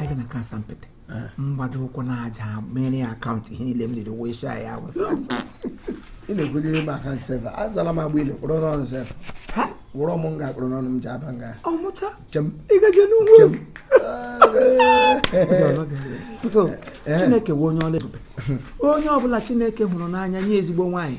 aga m aka asampete m gbado ụkwụ n'aja mere ya akaụntụ ihe niile m riri wee shaa ya awụsa ị na-ekwudiri m aka nsef azala m agba ile kpụrụ n'ọnụ nsef ha wụrọ m nga kpụrụ n'ọnụ m ji aba nga ọmụcha chi m ị gaje n'ugwu chi m so chineke wụ onye ọlụ ebube onye ọbụla chineke hụrụ n'anya nye ezigbo nwaanyị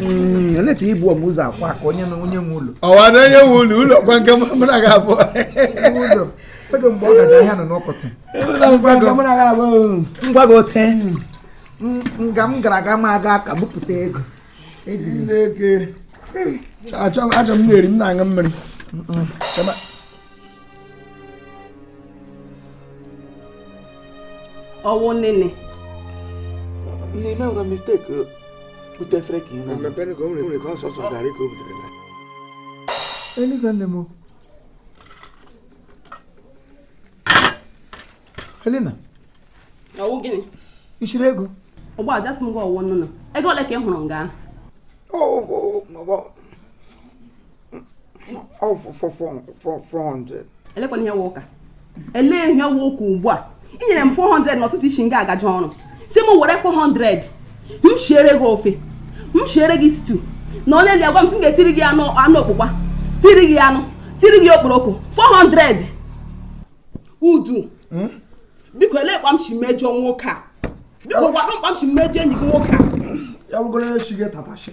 Mm, eleta i buo m ụzọ akwa ka onye na onye nwe ụlọ ọwa na onye nwe ụlọ ụlọ kwa nke mụ na ga-abụ ụlọ sego mgbe ọ gaji ahịa nọ n'ọkọtị ngwa gị ote nga m gara aga m aga aka bupụta ego achọ m na-eri m na-aṅụ mmiri ọ wụ nene nne ime nwere mistake uh, bute efere ka ị na mepere ka o nwere ka ọ sọsọ garị ka o butere na Eliza nne m Helena ọ wụ gịnị ị chịrị ego ụgbọaja sị m gị ọ wụ nụnụ ego ole ka ị hụrụ nga ahụ ọ 400 elekwanụ ihe wụ ụka elee ihe wụ ụka ugbu a i nyere m 400 n'ụtụtụ i si nga a gaje ọrụ sị m were 400 m shiere gị ofe m shiere gị stew na onye li agwa m sị m ga-etiri gị anụ anụ okpukpa tiri gị anụ tiri gị okporoko 400 udu hmm? biko elee kpa m si mejọ nwoke a biko gwa m kpa m si mejọ enyi gị nwoke a ya bụgoro echi gị tatashi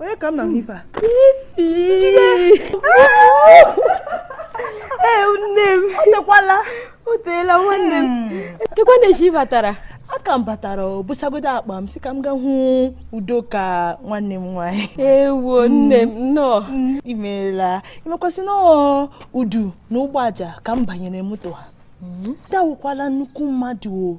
onye ka m na ife a ee nne m o tekwala o teela nwanne m chekwa na echi batara aka m batara m busagodo akpa m sị ka m ga hụ udoka nwanne m nwaanyị ewo nne m nnọọ i meela ị makwa sị na udu na ụgbọaja ka m banyere moto ha udu awụkwala nnukwu mmadụ o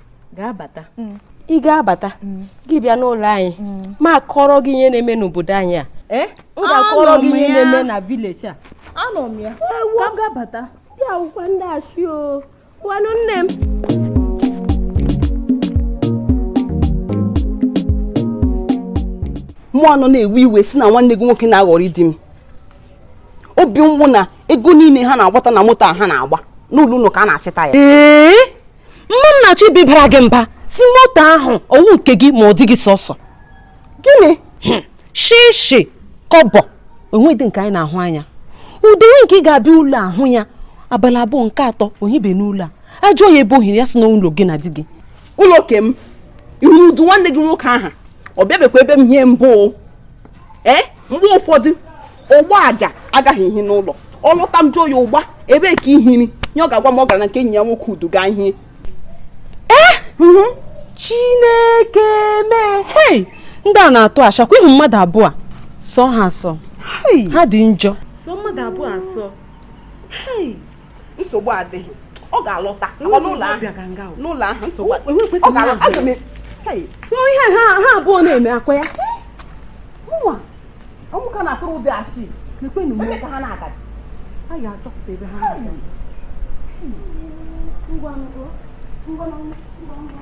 ga-abata mm. ị ga-abata mm. gị bịa n'ụlọ anyị mm. m akọrọ gị ihe na-eme n'obodo anyị a eh? m ga-akọrọ gị ihe na-eme na village a anọ m ya ka m ga-abata ndị akụkọ ndị ashị o ngwanụ nne m mụ anọ na-ewe iwe sị na nwanne gị nwoke na-aghọri di m obi mgbu na ego niile ha na-agbata na moto a ha na-agba n'ụlọ unu ka a na-achịta ya mma m na-achọ ịbịa bara gị mba sị moto ahụ ọ wụ nke gị ma ọ dị gị sọsọ gịnị hmm. shishi kọbọ o nwedị nke anyị na-ahụ anya udewe nke ị ga-abịa ụlọ ahụ ya abalị abụọ nke atọ o hibe n'ụlọ a ajụọ ya ebe o hiri ya sị n'ụlọ gị na di gị ụlọ ke m ị hụrụ udu nwanne gị nwoke ahụ ọ bịabekwa ebe m ihe mbụ ee eh? mgbe ụfọdụ ugboaja agaghị ehi n'ụlọ ọ lọta m jụọ ya ụgba ebee ka i hiri nye ọ ga-agwa m ọ gara na nke enyi ya nwoke udu gaa hie ee mhm. chineke mee hei ndị a na-atụ ashị akwa ị hụ mmadụ abụọ sọ ha asọ ha dị njọ sọ mmadụ abụọ asọ hei nsogbu adịghị ọ ga-alọta n'ụlọ ahụ nsogbu ọ ga-alọta ihe ha abụọ na-eme akwa ya ụmụaka na-atụrụ ụdị ashị nekwanụ m ee ọkwa ha na-agaji a ga-achọpụta ebe ha na-agaji ngwa ngwa ngwa ngwa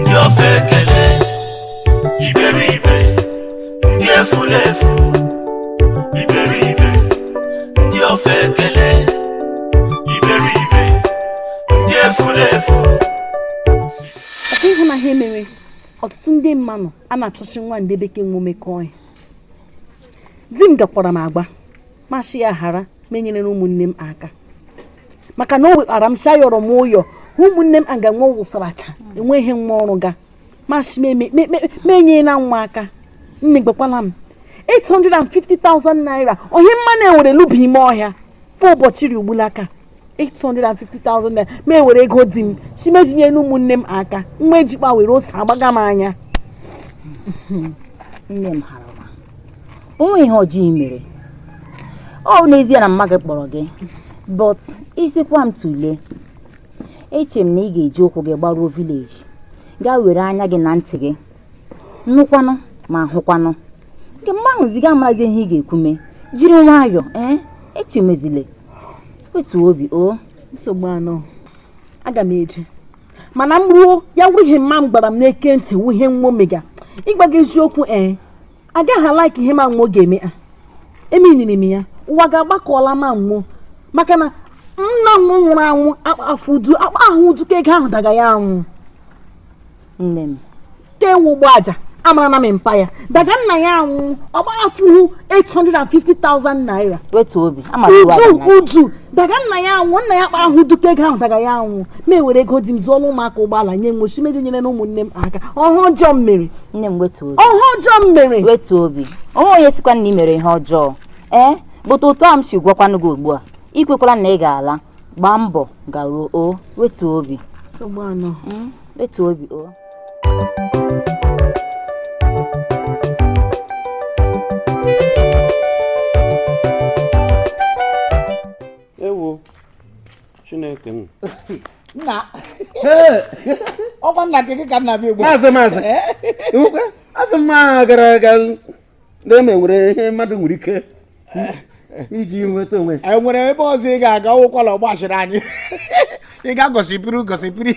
ndị ofeke iberibe ndị efulefu iberibe ndị ofeke iberibe ndị efulefu ọkwa ị hụ na ha emewe ọtụtụ ndị mmanụ a na-achọchi nwa ndị bekee nwe o mekọọ ya di m gwakwara m agwa m ashị ya ghara ma enyere ụmụnne m aka maka na o wekpara m shị yọrọ m ụyọ ụmụnne m aga nwa wụsaracha enweghị nwa ọrụ ga m asị m enye na nwa aka nne gbakwala m 850,000 naira ohi mma na-ewere luba ime ọhịa kwa ụbọchị ri ugbula aka 850,000 naira ma ewere ego di m sị m eji nye ụmụnne m aka nwa ejikpa were ose agbaga m anya nne m hara o nweghị ihe ọjọọ i mere ọ wụ n'ezie na mma gị kpọrọ gị but ị sịkwa m tụlee eche m na ị ga-eji ụkwụ gị gbaruo village gaa were anya gị na ntị gị nụkwanụ ma hụkwanụ nke mgbe ahụ zi ị ga-amazi ihe ị ga-ekwu mee jiri nwayọọ ee eh? echemezile wetu obi o nsogbu anọ aga m eje mana m ruo ya wụrụ ihe mma m gwara m n'ekwentị wụ ihe nwo mega ịgwa gị eziokwu ee eh? agaghị like ihe ma nwo ga-eme a emeniri m ya ụwa ga-agbakọla ma nwo maka na nna nwo nwụrụ anwụ akpahụ ụdị akpahụ ụdịka ego ahụ daga ya anwụ nne m ka ewu ugboaja amara na mpa ya daga nna ya anwụ ọgba afụhụ 850,000 naira wetu obi udu udu daga nna ya anwụ nna ya akpahụ ụdịka ego ahụ daga ya anwụ ma ewere ego di m zụọla ụmụaka ụgbọala nye nwo shị m eji nyere na ụmụnne m aka ọ wụ ọjọọ m mere nne m wetu obi ọ ihe ọjọọ m mere wetu obi o nwe onye sịkwa na ị mere ihe ọjọọ ee but otu a m si gwakwanụ gị ugbu a i kwekwala na ị ga-ala gbaa mbọ garuo o wetu obi hmm? wetu obi o Chineke m. nna ọ kwa nna gị gị ka nna bịa ugbu a. maazị maazị Ịhụkwa? asị m ma gara aga na-eme nwere ihe mmadụ nwere ike iji nweta onwe ya. e nwere ebe ọzọ ị ga-aga ụkwala ọgbachiri anyị ị ga gọsipiri gọsipiri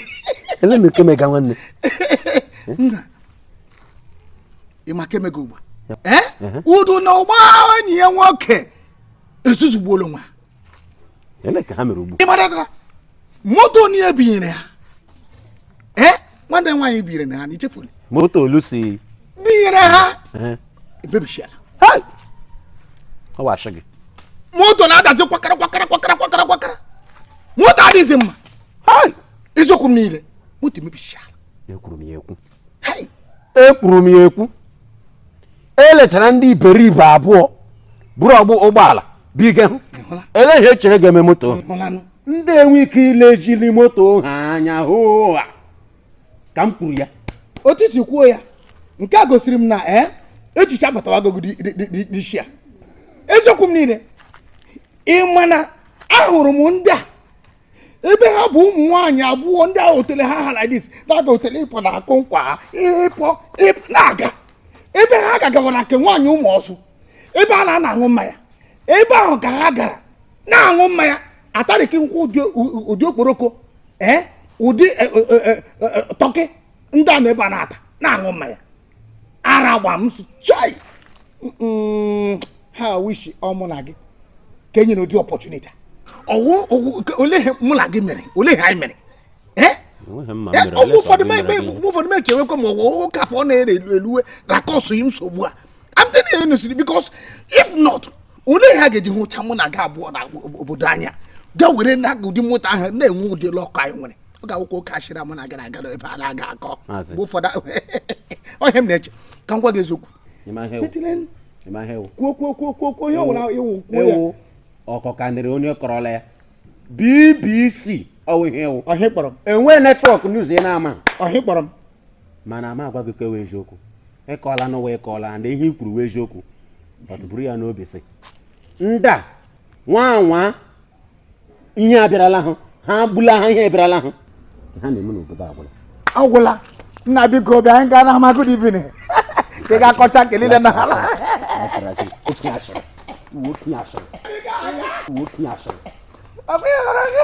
ele nke mega nwanne nna ị ma nke mega ugbu a ee Udu na Ụgbọ enyi ya nwoke ezuzugbuola onwe ha ele ka ha mere ugbu ị matara moto ni e binyere ha ee nwanne nwaanyị binyere na ha na i chefuru moto Oluchi binyere ha emebichiala ọ bụ asị gị moto na-adazi kwakara kwakara kwakara kwakara kwakara moto adịghịzi mma eziokwu m niile moto emebichiala ekwuru m ya ekwu ekwuru m ya ekwu e lechara ndị iberibe abụọ buru ụgbọala binye ha ele ihe e chere ga-eme moto ndị enwe ike ilezili moto ha anya hụ ka m kwuru ya otu i si kwuo ya nke a gosiri m na ee eh, echiche abatawago n'isi a eziokwu m niile ị ma na ahụrụ m ndị a ebe ha bu ụmụ nwaanyị abụọ ndị a otele ha ha like this na-aga otele ịpụ na-akụ nkwa ha ịpụ na-aga ebe ha gagawara nke nwaanyị Ụmụọsụ ebe a na-ana aṅụ mmanya ebe ahụ ka ha gara na-aṅụ mmanya atarịkị nkwụ ụdị okporoko ee ụdị e, e, e, turkey ndị a na ebe a na-ata na-aṅụ mmanya ara ụgba m sị chai how I wish ọ mụ na gị ka e nyere ụdị opportunity ọ wụ ole ihe mụ na gị mere ole ihe anyị mere oge ụfọdụ ụfọdụ m echewekwa ma ọ wụkwa afọ na-ere elu eluwe na-akọsụ yi nsogbu a I'm telling you honestly because if not ole ihe a ga-eji hụcha mụ na gị abụọ na obodo anyị a gaa were na ụdị moto ahụ na-enwe ụdị luck anyị nwere ọ ga-awụkwa oke ashịrị a mụ na gị na-aga ebe a na-aga akọ mgbe ụfọdụ ọ ihe m na-eche ka m gwa gị eziokwu kwuo kwuo kwuo kwuo kwuo ihe ọ wụla ị wụ kwuo ya ọkọkanịrị onye kọrọla ya BBC ọ wụ ihe ị wụ ọ ihe ị kpọrọ m enwe network news ị na-ama ọ ihe ị kpọrọ m mana ama agwa gị ke wụ eziokwu ị kọọla n'ụwa ị kọọla na ihe i kwuru wụ eziokwu buru ya n'obi sị ndị a nwa nwa ihe abịarala ha ha agbula ha ihe abịarala ha ha na-eme n'obodo agwụla nna biko bịa anyị gaa n'ama good evening ka ị ga-akọcha nke niile na ala ọ bụ ihe hụrụ gị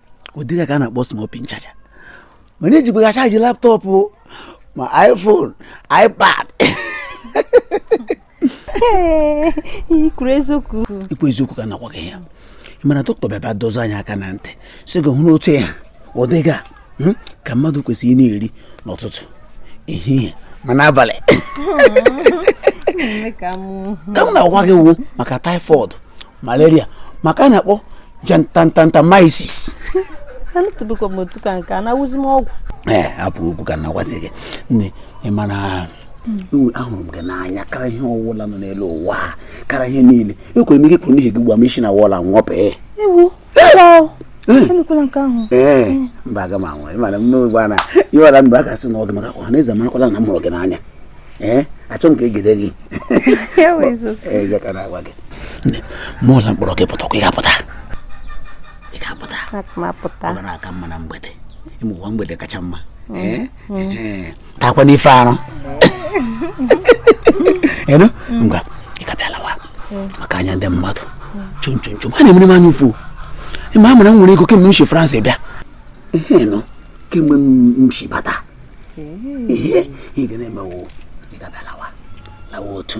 ụdị ya ka a na-akpọ small pin charger mana ejikwa ya chaji laptop ma iphone ipad ikwu eziokwu ka na-agwa gị ya mana doctor bịaba dọzi anyị aka na ntị sị gị hụ n'otu ya ụdịga hmm, ka mmadụ kwesịrị ịna-eri n'ụtụtụ ehihie ma n'abalị ka m na-agwa gị wu maka typhoid malaria maka a na-akpọ jantantantamaisis anụtụbekwa m otu ka nke a na-awụzi m ọgwụ ee hapụ okwu ka m na-agwazi gị nne ị mara ahụrụ m gị n'anya kara ihe ọwụla nọ n'elu ụwa kara ihe niile ekwere m ike kwuru n'ihi gị gwa m isi na wall nwọpee emekwala nke ahụ ee mba aga m anwa ịmara m n'ogbe a na ị mara mgbe a ga-asị na ọ dị mma ka ọha na eze marakwala na m hụrụ gị n'anya ee achọ m ka egide gị eze ka na-agwa gị mụọ na m kpọrọ gị pụtakwa ị ga-apụta ị ga-apụta ọ gara aka mma na mgbede ịmụwa mgbede kacha mma ee takwa n'ife arụ enu ngwa ị ga-abịa lawa maka anya ndị mmadụ chụm chụm chụm ha na-emere m anya ụfụ ma amara m nwere ego kemgbe m si France bịa ihe nọ kemgbe m si bata ihe ị ga na-eme wụ ị ga-abịa lawa lawa otu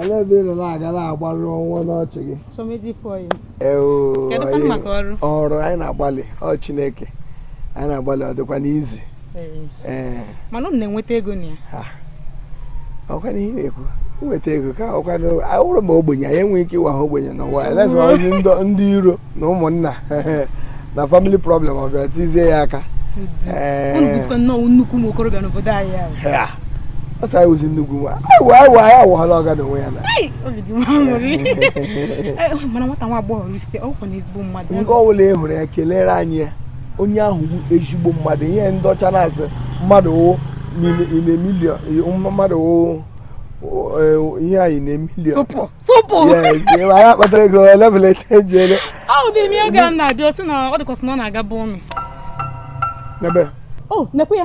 Ele ebe ị nọ na-aga na-agbarụ ọnwa n'ọchị gị? Ọrụ anyị na-agbalị ọ Chineke anyị na-agbalị ọ dịkwanụ easy. Mana m na-enweta ego na ya. Ọkwa na ihe na-ekwu nweta ego ka ọkwa na awụrụ m ogbenye anyị enweghị ike ịwa ha ogbenye n'ụwa elezi ndị iro na ụmụnna na family problem ọ bịara tizie ya aka nnukwu nwa okorobịa n'obodo anyị ọ sị anyị wụzi nnukwu nwa anyị awụhala ọga n'onwe ya na nke ọ bụla ị hụrụ ya kelere anyị ya onye ahụ bụ ezigbo mmadụ ihe ndị ọcha na-asị mmadụ wụ mmadụ wụ ihe a in a million tupu yes ị ma ya kpatara ego level echenjiela ahụ dị ime oge m na-abịa ọ sị na ọ dịkwasị na ọ na-aga bụ ụnụ n'ebe o oh, nekwe ya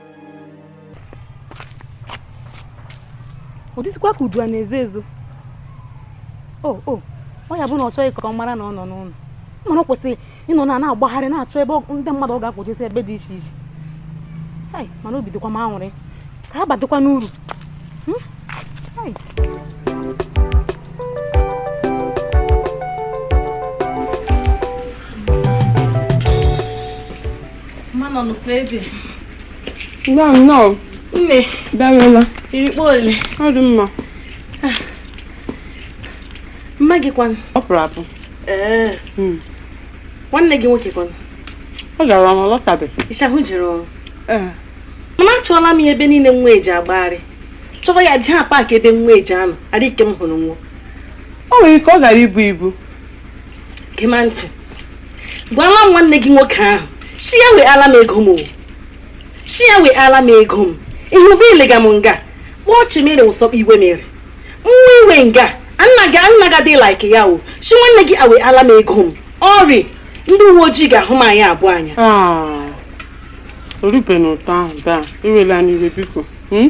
ọ dịzikwa ka udu a na-ezo ezo o oh, o oh. ọ ya bụ na ọ chọghị ka ọ mara na ọ nọ n'ụlọ mana ọ kwesịrị ịnọ na na-agbagharị na-achọ ebe ndị mmadụ ọ ga-akwọjesi ebe dị iche iche mana obi dịkwa m aṅụrị ka ha badịkwa n'uru hmm? mmanụ nọkwa ebe nnọọ nnọọ nne bịarụla i ri kpa ole ọ dị mma ah. mma gị kwanụ ọ pụrụ apụ ee hmm. nwanne gị nwoke kwanụ ọ gara ọrụ lọtabeghị ịchahụ jere ọrụ eh. mana achọọla m ya ebe niile nwa eji agbagharị chọọ ya jee paakị ebe nwa eji anọ adịghị ike m hụrụ nwa o nwere ike ọ gara ibu ibu gema ntị gwala m nwanne gị nwoke ahụ si ya wee ala m ego m o si ya wee ala m ego m ihe ụgbọ ilega m nga kpọọ chimere ụsọkpa iwe mere nwa iwe nga nna gị nna gị adịghị like ya o si nwanne gị awe ala m ego m ọrị ndị uwe ojii ga-ahụ m anyị abụọ anya o rubena otu ahụ daa iwela n'iwe biko hmm?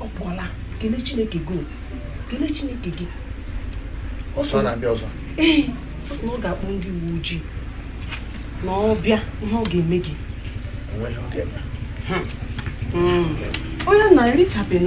ọ pụọla kelee chineke gị kelee chineke gị ọ sị na ọ bịa ọzọ na ọ ga-akpọ ndị uwe ojii na ọ bịa ihe ọ ga-eme gị onye na-erichabeghị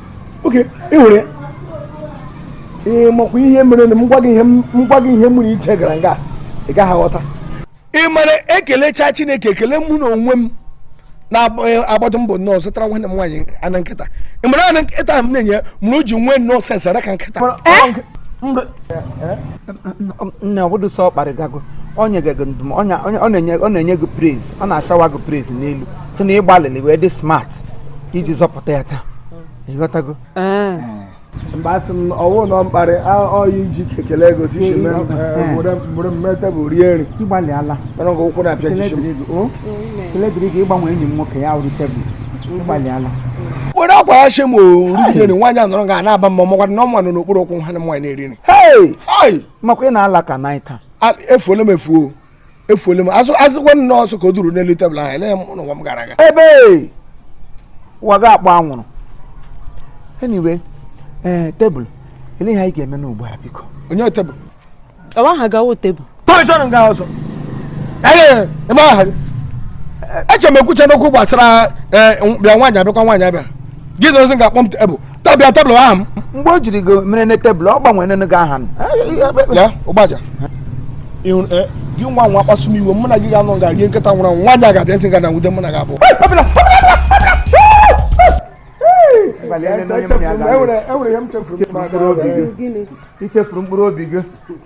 oke ị hụrụ ya ee makwa ihe mere na m gwa gị ihe m nwere iche gara nga ị gaghị aghọta ị mara ekelecha chineke ekele mụ na onwe m na-agbado mbọ nnọọ zụtara nwanne m nwaanyị anụ nkịta ị mara anụ nkịta m na-enye mere o ji nwee nnọọ sense ara ka nkịta nne ọbụdụ sọ ọ kparịgago ọ na-enye gị praise ọ na-asawa gị praise n'elu si na ịgbalịrị wee dị smart iji zọpụta ya taa ịghọtago mgbe asị m ọ wụ nnọọ mkparị ọyị ji ekele ego tishi mụrụ mme tebụl rie nri ịgbalịala mana nke ụkwụ na-apịa tishi kele dịrị gị ịgbanwe enyi m nwoke ya wụrụ tebụl ịgbalịala were akwa ya shi m orugide nri nwaanyị anọrọ ga na-aba mba makwara na ọnwa nọ n'okpuru ụkwụ ha na nwaanyị na-eri nri makwa ị na-ala ka naịta efuola m efuo efuole m asịkwa m na ọsọ ka o duru n'elu tebụl ahụ ele m n'ụwa m gara aga ebe ụwa ga-akpọ anwụrụ anyway ee tebụl ele ihe anyị ga-eme n'ugbu a biko onye tebụl ọ wụ aha gawo tebụl tọrịchọrọ nga ọzọ ee ebe aha gị eche m ekwuchana okwu gbasara ee bịa nwaanyị abịakwa nwaanyị abịa gị na ozi ga-akpọ m tebụl tabịa tebụl aha m mgbe o jiri gị mere na tebụl ọ gbanwere nene gị aha m ya ụgbaja ịhụrụ e, gị nwa nwa kpasu m iwe mụ na gị ga-anọ nga rie nkịta nwụrụ anwụ nwaanyị a ga-abịa nsị ga na nwude mụ na gị abụọ enwere ihe m chefuru m ichefuru mkpụrụ obi gị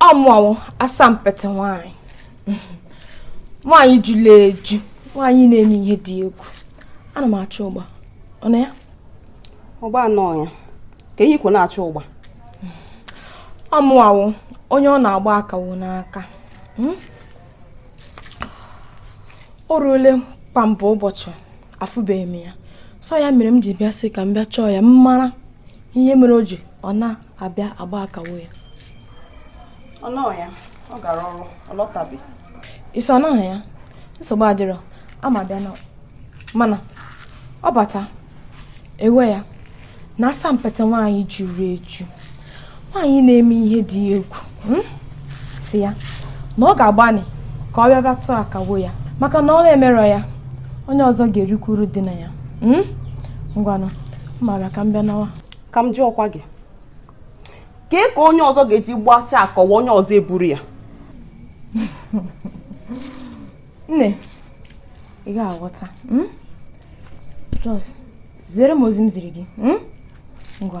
ọ mụwa wụ asampete nwanyị nwanyị juru eju nwanyị na-eme ihe dị egwu ana m achọ ụgba ọ nọ ya ụgba anọ ya kee ihe ikwu na-achọ ụgba ọ mụwa wụ onye ọ na-agba akawo n'aka hmm? o ruole kamgbe ụbọchị afụbeghị m ya sọ ya mere m ji bịa sị ka m bịa chọọ ya m mara ihe mere o ji ọ na abịa agba akawo ya ọ nọ ya ọ gara ọrụ ọ lọtabe ị sị ọ nọghị ya nsogbu adịrọ ka m bịa naa mana ọ bata ewe ya na asampete nwaanyị juru eju nwaanyị na-eme ihe dị egwu hmm? sị ya na ọ ga-agbani ka ọ bịa bịa tụọ akawo ya maka na ọ na-emerọ ya onye ọzọ ga-erikwa uru dị na ya hmm? ngwanụ mara ka m bịa nawa ka m jụọkwa gị kee ka onye ọzọ ga-eji gbachaa akawo onye ọzọ eburu ya nne ị ga-aghọta hmm? just ziere m ozi m ziri gị hmm? ngwa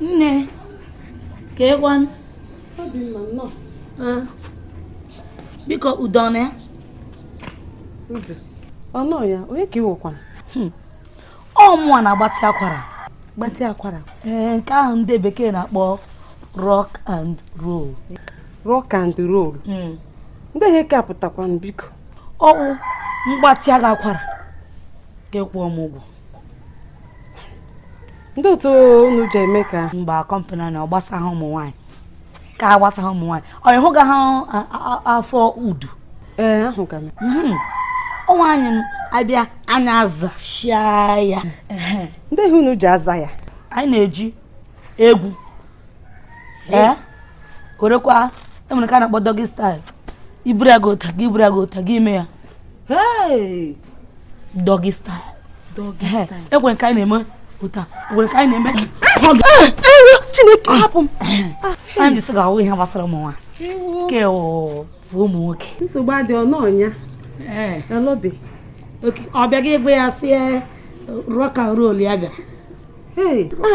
nne kee kwanụ Ee. biko udo nọ ya Ọ nọ ya, onye ka ị wụkwanụ? ọ mụnwa na-agbatị akwara gbatị akwara ee nke ahụ ndị bekee na-akpọ rock and roll rock and roll hmm. ndị ihe nke a pụtakwanụ biko ọ wụ mgbatị agha akwara ga-ekwu m ụgwọ ndị otu unu ji eme ka mba kọmpani na ọ gbasa ha ụmụ nwaanyị ka a gbasa ha ụmụ nwaanyị ọ ịhụ ga ha afọ udu ee ahụ ga mhm. ọ nwaanyị bịa anyị azachaa ya ndị ihe unu ji aza ya anyị na-eji egwu ee werekwa enwere ka a na-akpọ doggy style iburu ya gị ụta gị iburu ya gị ụta gị ime ya doggy style egwe nke anyị na-eme ụta egwe nke anyị na-eme chineke hapụ m anyị jisi ga-ahụ ihe gbasara ụmụ nwoke ụmụ nwoke nsogbu adị ọnụ ọnya elobi ọ bịaghị egwe ya sie rock and roll ya bịara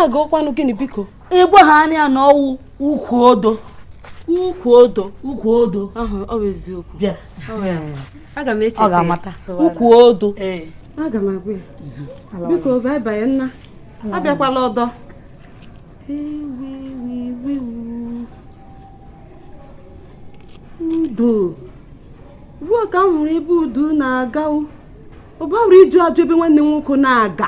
agụkwanụ gịnị biko ịgwa ha anya na ọ wụ ukwu odo ukwu odo ukwu odo ọ bụ eziokwu bịa aga m echeta ọ ga-amata ukwu odo aga m agwa ya mhm. biko bye bye nna abịakwala ọdọ udo ugbu ka m hụrụ ebe udu na-aga ụba hụrụ iju ajụ ebe nwanne nwoke na-aga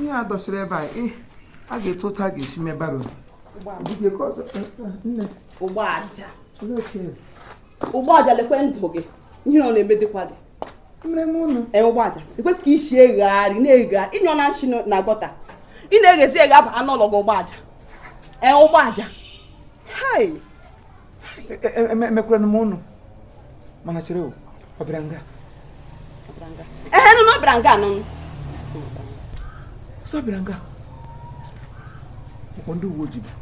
ihe a dọsịrị ebe a ga-etu otu a ga-esi mebara ụgbọaja ụgbọaja lekwe ndụ gị ihe ọ na-emedịkwa gị ee ụgbọaja ekwe ka i si egharị na-egharị ịnyọ na nshi na gọta ị na-eghezi eghe aba n'ụlọ gị ụgbọaja ee ụgbọaja emekwara m unu mana chere ọ bịara nga ehe nụ na ọ bịara nga nụ sọ bịara nga ọ kpọ ndị uwe ojii bịa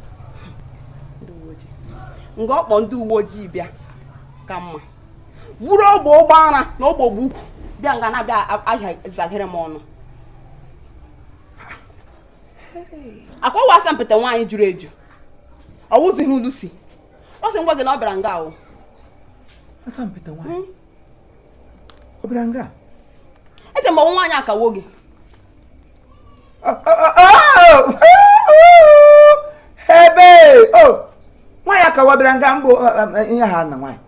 nga ọ kpọ ndị uwe ojii bịa ka mma vuru ogbe ogbe ara na ogbe ogbe ukwu bịa nga na-abịa ahịa zaghere m ọnụ akwawa asampete nwaanyị juru eju ọ wụzighị ulusi ọ sị m gwa gị na ọ bịara nga ahụ asampete nwaanyị hmm? ọ bịara nga eche m ọ wụ nwaanyị akawo gị ebe o nwaanyị akawo bịara nga mbụ ihe ha na nwaanyị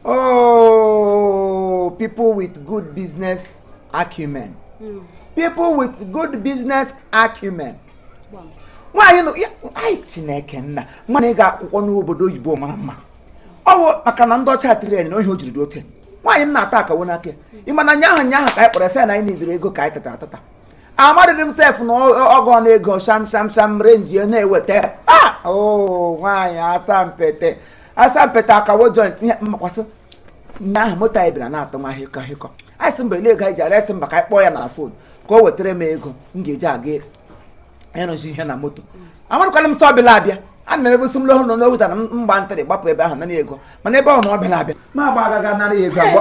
Oh, people with good business acumen. Mm. People with good business acumen. nwaanyị nọ ya anyị chineke nna nwaanyị ga akwụkwọ n'obodo oyibo mara mma ọ wụ maka na ndị ọcha tiri anyị na ohi o jiri dị ote nwaanyị m na-atụ akawo n'aka ị ma na nya ahụ nya ahụ ka anyị kpọrọ sị na anyị na-edere ego ka anyị tata atata amadịghị m sef na ọgụ ọnụ ego sham sham sham renji na-eweta a ah! oh, nwaanyị asampete asampete akawo joint ihe mmakwasị nya ahụ moto anyị bịara na-atụ nwa hịkọ hịkọ anyị sị mba ele ego anyị ji aresị mba ka anyị kpọọ ya na fon ka o wetara m ego m ga-eji aga ịrụzi ihe na moto amarụkwana m sị ọ bịala abịa a na ebe si m lọhụ nọ n'oge na mgba ntịrị gbapụ ebe ahụ nara ego mana ebe ọ na ọ bịala abịa ma agba agaga nara ya ego agba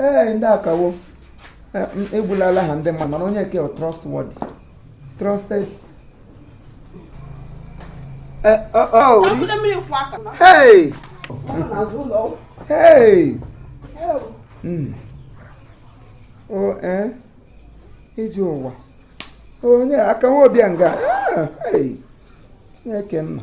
ee ndị akawo egbulala ha ndị mmadụ mana onye nke trustworthy trusted eh, oh, oh. hey hey hmm. o oh, eh? iji ụwa onye akawo bịa nga a, chineke nna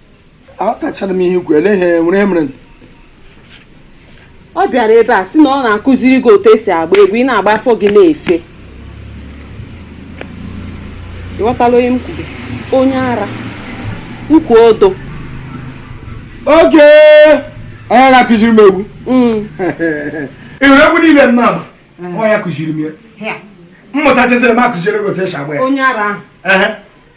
aghọtachara m ihe ikwu ele ihe nwa a mere ọ bịara ebe a sị na ọ na-akụziri gị otu esi agba egwu ị na-agba afọ gị na-efe ịghọtala onye m kwuru onye ara ukwu ọ dị ka onye na-akụziri m egwu mm. ịhụrụ egwu niile m na-agba onye kụziri m ya mmụta chezere m akụziri gị otu esi agba ya onye ara ahụ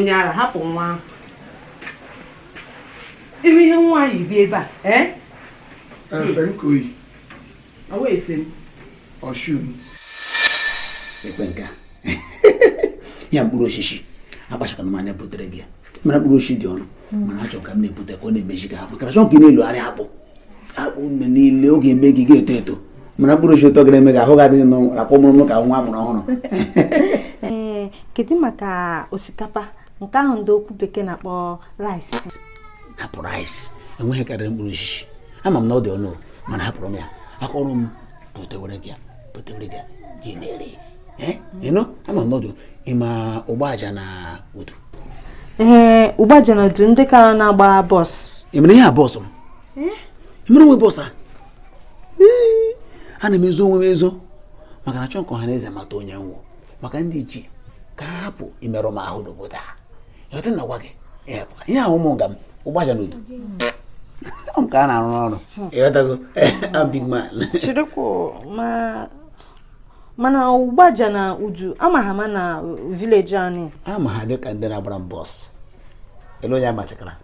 onye ara hapụ nwa ahụ ebe ihe nwaanyị bi ebe a ee eh? ekwe nke a ya mkpụrụ osisi akpachakwana m anya butere gị ya mana mkpụrụ osisi dị ọnụ hmm. mana achọrọ ka m na-ebute ka ọ na-emezi gị ahụ makana chọọ ka ị na-elogharị akpụ akpụ mgbe niile ọ ga-eme gị ga-eto eto mana mkpụrụ osisi ụtọ ga-eme gị ahụ gị adị na-akwọ mụrụ ka nwa amụrụ ọhụrụ kedu maka osikapa nke ahụ ndị okwu bekee na-akpọ rice hapụ rice enweghị ihe karịrị mkpụrụ osisi ama m na ọ dị ọnụ mana hapụrụ m ya aka ọrụ m butewere gị butewere gị gị na-eri ịnụ ama m na ọ dị ịma ụgbaja na udu ee ụgbaja na udu ndị ka na-agba bọs ị mere ihe a bọs m ị mere onwe bọs a ana m ezo onwe m ezo maka na achọọ m ka ọha na eze mata onye m wụ maka ndị ichie ka ha hapụ imerụ m ahụ n'obodo a ịghọta na-agwa gị ihe ahụ ụmụ nga m ụgbaja n'udu ọ m ka ha na-arụrụ ọrụ ịghọtago big man chirikwu ma mana ụgbaja na udu ama ha ma na village anyị ama ha dịka ndị na-agbara m bọs ele onye amasịkara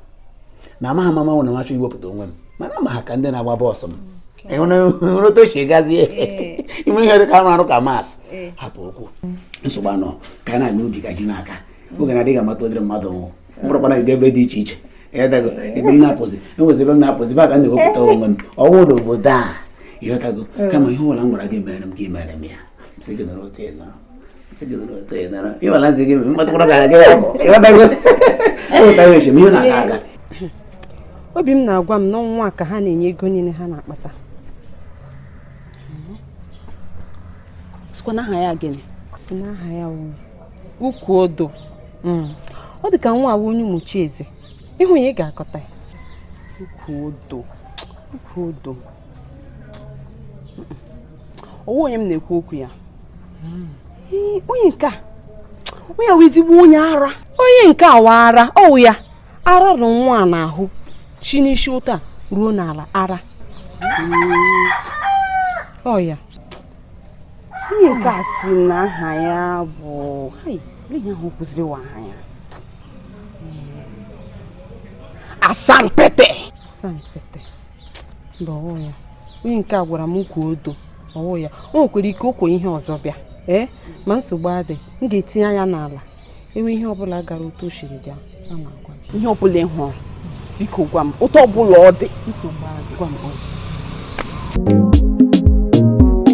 na amaghị m ama wụ na m achọọ iwepụta onwe m mana ama ha ka ndị na-agba bọọsụ m ịhụrụ otu o si gazie ime ihe dị ka arụ arụ ka maasị hapụ okwu nsogbu anọ ka a na-aga ubi ka ji na-aka oge na-adịghị amata ụdịrị mmadụ m wụ m kpọrọkwana gị ebe dị iche iche ịghọtago ebe m na-apụzi enwezi ebe m na-apụzi ba ka m na-ewepụta onwe m ọnwụ na obodo a ịghọtago kama ihe ọbụla m gwara gị mere m gị mere m ya sị gị nọrọ otu ịnọrọ obi m na-agwa m na ọ nwa a ka ha na-enye ego niile ha na-akpata sịkwa na aha ya gịnị sị na aha ya ukwu odo hmm. ọ dị ka nwa a wụ onye Ụmụchieze ị hụ ya ị ga-akọta ya ukwu odo ukwu odo ọ wụ onye m na-ekwu okwu ya onye nke a onye wụ ezigbo onye ara onye nke a wa ara ọ wụ ya ara nọ nwa a n'ahụ shi n'isi ụta ruo n'ala ara ọ ya onye nke a sị na aha ya bụ ihe ahụ kwuziri wa aha ya asampete asampete mba ọ wụ ya onye nke a gwara m ukwu odo ọ wụ ya o nwekwara ike o kwuo ihe ọzọ bịa ee ma nsogbu adị m ga-etinye anya n'ala e nwee ihe ọbụla gara otu o siri bịa a na-agwa gị ihe ọbụla ị hụrụ biko gwa m otu ọbụla ọ dị nsogbu adị gwa m ọ dị.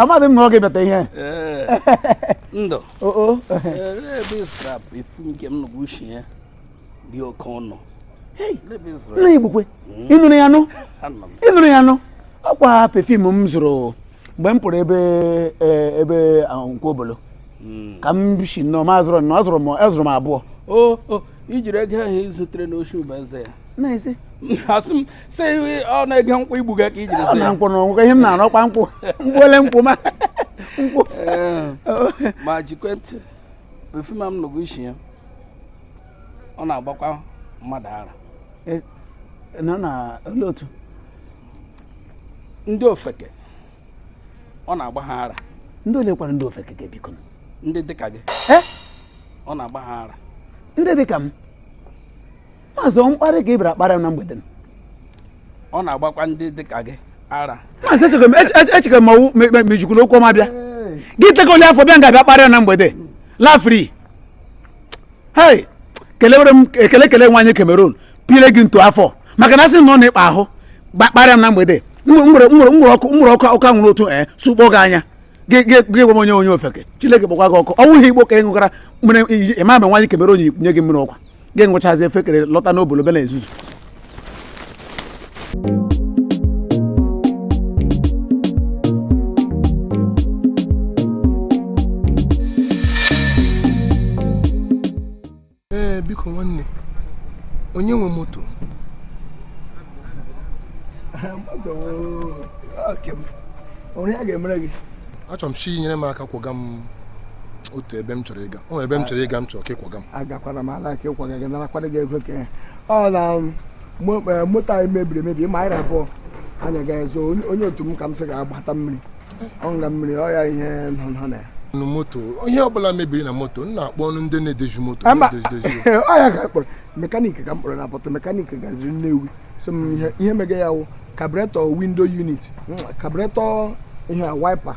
amadị m na ọ ga-ebata ihe ndụ ebe ị zụrụ pefim nke m nụbụ ushi ya dị oke ọnụ nna Igbokwe hmm? ịnụrụ ya nụ ịnụrụ ya nụ ọkwa pefim m zụrụ mgbe m pụrụ ebe e, ebe Nkwọ Obolo hmm. ka m si nnọọ ma azụrụ nnọọ azụrụ m azụrụ m abụọ o i jiri ego ahụ i zutere n'oshi ụba eze ya asị m sị ọ n'ego nkwụ i gbuga ka i jiri zụ ya nkwụ na ọ wụ ihe m na-arụ ọkwa nkwụ m gbuole nkwụ ma nkwụ ma gekwe ntị pefim m nụbụ isi ya ọ na-agbakwa mmadụ ara e, nna ole otu ndị ofeke ọ na-agba ha ara ndị ole kwara ndị ofeke ke biko ndị dịka gị ọ na-agba ha ara ndị dịka m maazị ọ mkparị ka ị bịara kparị m na mgbede ọ na-agbakwa ndị dịka gị ara maazị echekwa ma ọwụ mejikwu na okwu ọma bịa gị teka ole afọ bịa nga bịa kparịa na mgbede lafri hei kelewere m ekele kele nwaanyị Cameroon pile gị ntu afọ maka na asị na ọ na-ekpa ahụ kparịa m na mgbede nwere ọkụ nwere ọkụ ọkụ anwụrụ otu ee eh, sụkpọ gị anya gị gwa m onye onye ofeke Chineke kpọkwa gị ọkụ ọ wụghị igbo ka ị ṅụgara mere ị ma ma nwaanyị Cameroon nye gị mmiri ọkwa gị ṅụchazi efekere lọta n'obodo be na ezuzu ee biko nwanne onye nwe moto onye a ga-emere gị achọrọ m sị nyere m aka kwaga m otu ebe m chọrọ ịga o ebe m chọrọ ịga m chọrọ ka ị kwaga m agakwara m ala ka ịkwaga gị narakwara gị ego ka ọ na um, eh, moto anyị mebiri emebi ma anyị abụọ anya ga-ezo onye otu m ka m sị ga-agbata mmiri ọ ṅụga mmiri ọ ya ihe nọ nọ na ya nụ moto ihe ọbụla mebiri na moto nna akpọ ọnụ ndị na-edozi moto ọ ya ka kpọrọ mekaniki ka m kpọrọ na pọtụ mekaniki gaziri Nnewi so m ihe ihe mega ya wụ carburetor window unit carburetor ihe wiper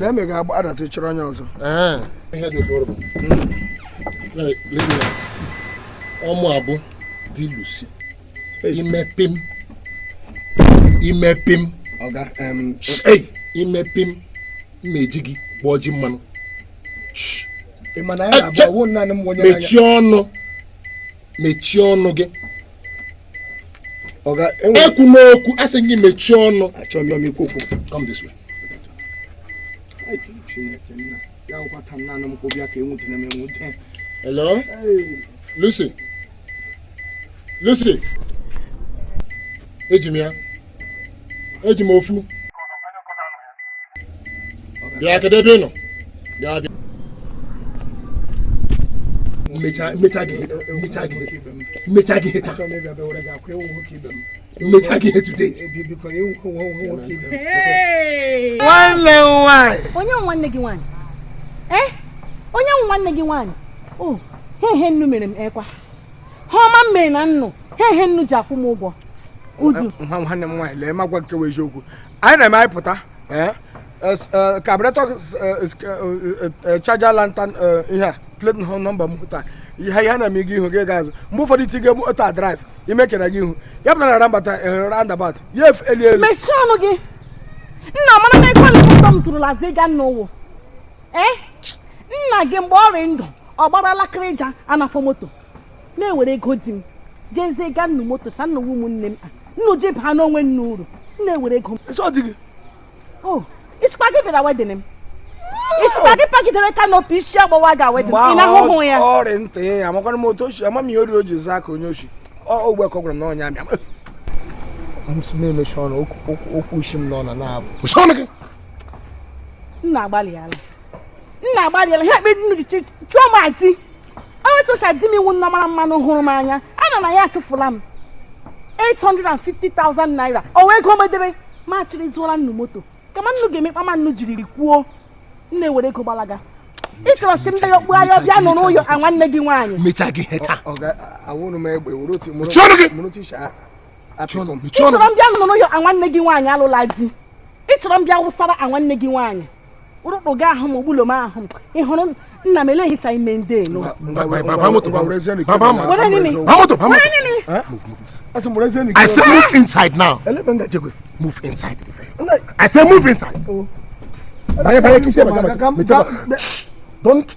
na-eme ga adatụ chọrọ onye ọzọ ọ mụ abụ di Lucy i mee pim i mee pim ọga i mee pim m ma eji gị gbọọ ji mmanụ mechie ọnụ mechie ọnụ gị ekwuna okwu asị gị mechie ọnụ achọghị m ikwu okwu Hello? Lucy? Lucy? Eji m ya. Eji m ofu. Bịa kedu ebe ị nọ? Bịa bịa. M mechaa gị ihe taa. M mechaa gị ihe taa. m mechaa gị ihe today nwanne nwaanyị onye nwanne gị nwaanyị eh onye nwanne gị nwaanyị o oh, he he nnu mere m ekwa he ọma m mere na nnu he he nnu ji akwụ m ụgwọ udu nwa nwanne m nwaanyị lee m agwa nke wụ eziokwu anyị na-eme anyị pụta eh? carburetor charger lantern ihe a plate number moto ihe ihe na-eme gị ihu gị ga azụ mgbe ụfọdụ i tige moto a drive i mekere gị ihu ya pụtara na rambata eh, roundabout ya efu elu elu mechie ọnụ gị nna mara na ekwela ụtọ m tụrụla zi ga nna ụwụ ee nna gị mgbe ọ rị ndụ ọ gbara alakịrịja anafọ moto na-ewere ego di m ji ezi ga nnu moto sị nnu wụ ụmụnne m nnu ji baanụ onwe nnu uru na-ewere ego m Oh, ị sịkwa gị bịara wedding m ị sịkwa gị pagidere canopy isi agbawa ga wedding ị na-ahụhụ ya ọ rị ntị ya amakwana m otu oshi ama m ihe o riri o ji zaa ka onye oshi ogbe ka ọ gwara m na ọnya abịa na-emechi ọnụ okwu shi m n'ọnụ na-apụ nna agbalịala nna agbalịala ha ekpe nnu ji chụọ m ati onye chọcha di m iwu nna mara mmanụ hụrụ m anya ana na ya achụfụla m 850,000 naira o wee ego m edebe m achịrị zụọla nnu moto kama nnu ga-emekpa ma nnu jiriri kwuo nne were ego gbalaga ị chọrọ si ndị ya okpu ahịa bịa nọ n'ụlọ a nwanne gị nwaanyị mechaa gị ihe taa chọrọ m bịa nọ n'ụlọ a nwanne gị nwaanyị alụla di ị chọrọ m bịa wụsara a nwanne gị nwaanyị ụrụkpụ gị ahụ m ogbulo m ahụ m ị hụrụ nna m eleghị sa ime ndị elu I say move inside now. Move inside. I say move inside. Oh. Don't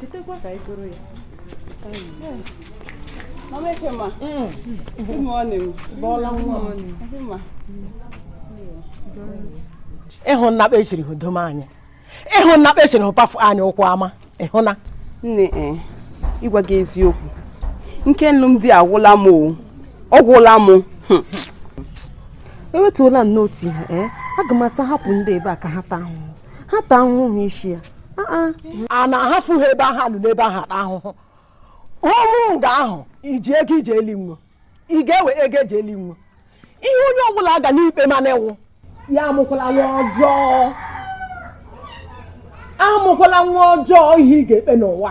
chetakwa ka anyị goro ya Mama Ekema, good morning. Bọọla nwa Ekema. ị hụna kpa e chiri hụ dom anyị ị hụna kpa e chiri hụ pafụ anyị ụkwụ ama ị hụna Nne eh, ịgwa gị eziokwu. Ike alụmdi agwụla m o. Ọ gwụla m. Hmm. ewetuola m n'otu ihe ee aga m asa hapụ ndị ebe a ka ha taa ahụhụ ha taa ahụhụ n'isi ya a na-ahafụ ha ebe ahụ alụ n'ebe ahụ ata ahụhụ ọnwụ nga ahụ i ji ego i je eli nwo ị ga-ewe ego e ji eli nwo ihe onye ọbụla ga na-ekpe mana ịnwụ ya amụkwala nwa ọjọọ amụkwala nwa ọjọọ ihe ị ga-ekpe n'ụwa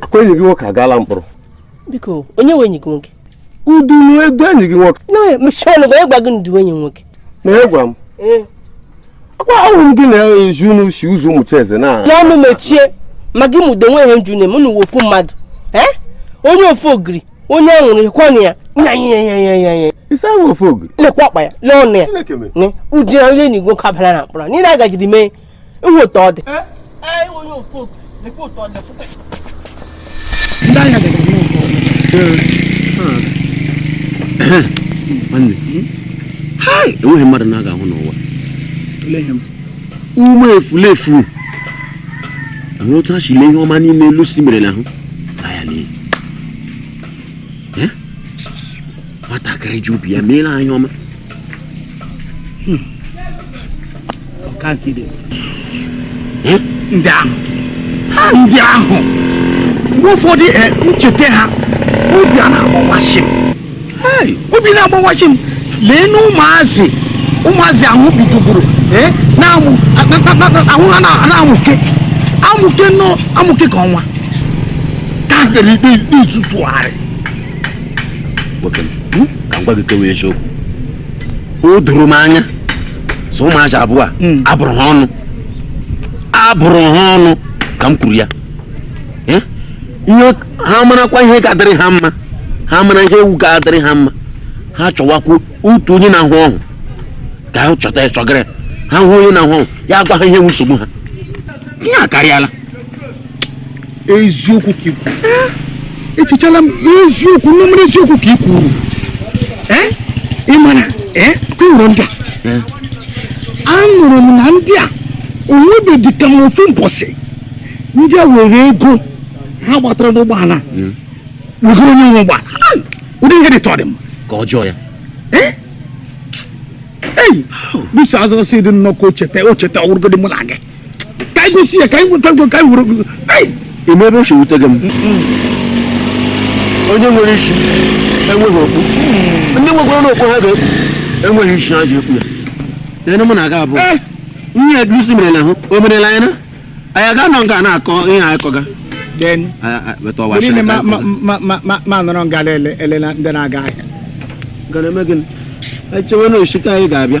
akwa enyi gị nwoke agaala mkpọrọ biko onye nwe enyi gị nwoke udu n'edu enyi gị nwoke mechie ọnụ gwa ịgwa gị ndu enyi nwoke na ịgwa m akwa ahụrụ m gị na-eji unu si ụzọ ụmụ eze na n'ọnụ mechie ma gị mụdo nwe ihe nju na-eme unu ofu mmadụ onye ofu ogiri onye anwụrụ ịkwanye ya nyanyanyanyanya isi ahụ ofe ogiri lekwa ọkpa ya lee ọnụ ya Chineke mere. ne ụdị onye enyi nwoke abala na mkpọrọ niile agajiri mee ị hụ otu ọ dị nwanne hai enweghị ihe mmadụ na-agaghị ahụ n'ụwa ụmụ efulefu ahụ otu ha si lee ihe ọma niile Lucy mere n'ahụ nwatakịrị ji obi ya meere anyị ọma hmm. eh? ndị ahụ ha ndị ahụ mgbe ụfọdụ eh, m cheta ha obi a na-agbawashi m obi na-agbawashi m lee na ụmụazị ụmụazị ahụ bidoburu eh, ahụ ha na-amụke amụke na-amụke ka ọnwa ka ha kpere ikpe ikpe izuzugharị nwoke m ka m gwa gị ke wụ eziokwu o doro m anya sị ụmụazị abụọ a hmm. a bụrụ ha ọnụ a bụrụ ha ọnụ ka m kwuru ya eh? ihe ha marakwa ihe ga-adịrị ha mma ha mara ihe wụ ga-adịrị ha mma ha chọwakwa otu onye na-ahụ ọhụ ka ha chọta chọgara ha hụ onye na-ahụ ọhụ ya gwa ha ihe wụ nsogbu ha ihe a akarịala eziokwu ka ikwu echechala m eziokwu n'omere eziokwu ka ikwu ị mara kwuru ndị a anụrụ m na ndị a o nwebedị kama ofu mbọsị ndị a were ego ha gbatara n'ụgbọala wegoro onye nwe ụgbọala ụdị ihe dị tọrị m ka ọjọọ ya bisi azụ si dị nnọkọ ocheta ocheta ọ wụrụgodị mụ na gị ka anyị gosi ya ka anyị nweta ka anyị were eme ebe o si wute gị m onye nwere isi enweghị okpu ndị nwekwaranụ okpu ha ga-ekpu enweghị isi ha ji ekpu ya ene mụ na gị abụọ eh! ihe ya gịsi mere na ahụ o merela anyị na anyị ga-anọ nga na-akọ ihe anyị kọga ma nọrọ nga elele ndị na-aga ahịa gara eme gịnị echewe na osite anyị ga-abịa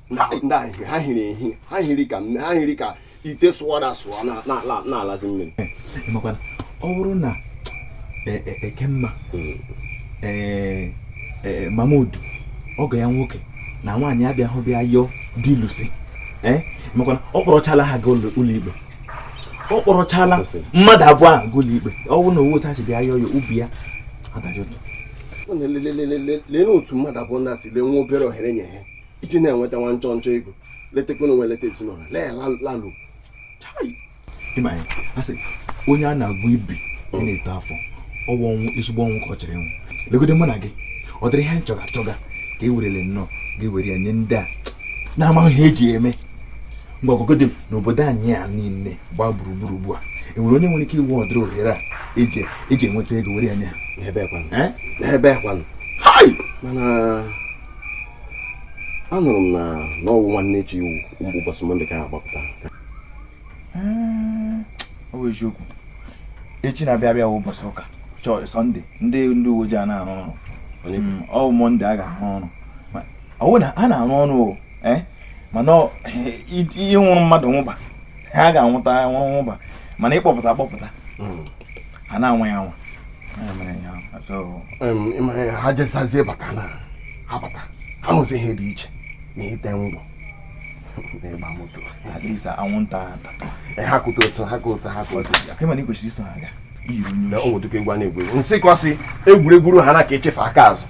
ndị ahụ ha hiri ehi ha hiri ka ha hiri ka ite sụwara asụwa na-alazi mmiri ọ bụrụ na e, e, ekemma hmm. e, mamudu ọgọ ya nwoke na nwaanyị abịahụ bịa yọọ di lusi makwana ọ kpọrọchala ha gaa ụlọikpe ọ kpọrọchala mmadụ abụọ ahụ gaa ụlọikpe ọ bụrụ na ọ wụ otu ha si bịa yọọ ya obi ya adajụtụ leenụ otu mmadụ abụọ ndị a si lee nwa obere ohere nye ha iji na-enweta nwa nchọ nchọ ego letekwanụ onwe leta ezinụlọ lee lalu onye a na-agwọ ibi ọ na-eto afọ ọ wụ ọnwụ ezigbo ọnwụ ka ọ chọrọ ịnwụ legode mụ na gị ụdịrị ihe nchọga achọga ka e werele nnọọ ga-ewere ya nye ndị a na-amaghị ihe e ji eme mgbe ọgụgụdị n'obodo anyị a niile gbaa gburugburu ugbu a o nwere onye nwere ike iwe ụdịrị ohere a e ji enweta ego were ya nye ha ebee kwanụ mana anụrụ m na na ọ wụ nwanne echi wụ ụbọchị mọnde ka ha gbapụta hmm, ọ wụ eziokwu echi na-abịa abịa ụbọchị ụka chọọchị sọnde ndị ndị uwe ojii a na-arụ ọrụ hmm, ọ wụ mọnde a ga-arụ ọrụ ọ wụ na ha na-arụ ọrụ o eh, mana ịnwụrụ mmadụ nwụba ha ga-anwụta nwụrụ nwụba mana ịkpọpụta akpọpụta hmm. ha na-anwa ya anwa ha jesazie bata na ha bata ha hụzi ihe dị iche na ite ngwọ ịgba moto anwụnta ha kụta otu ha kụta ha kụta kwesịrị iso ha aga na o nwetụka egwu a na-egwu egwu nsịkọ sị egwuregwu ha na ka ichifu aka azụ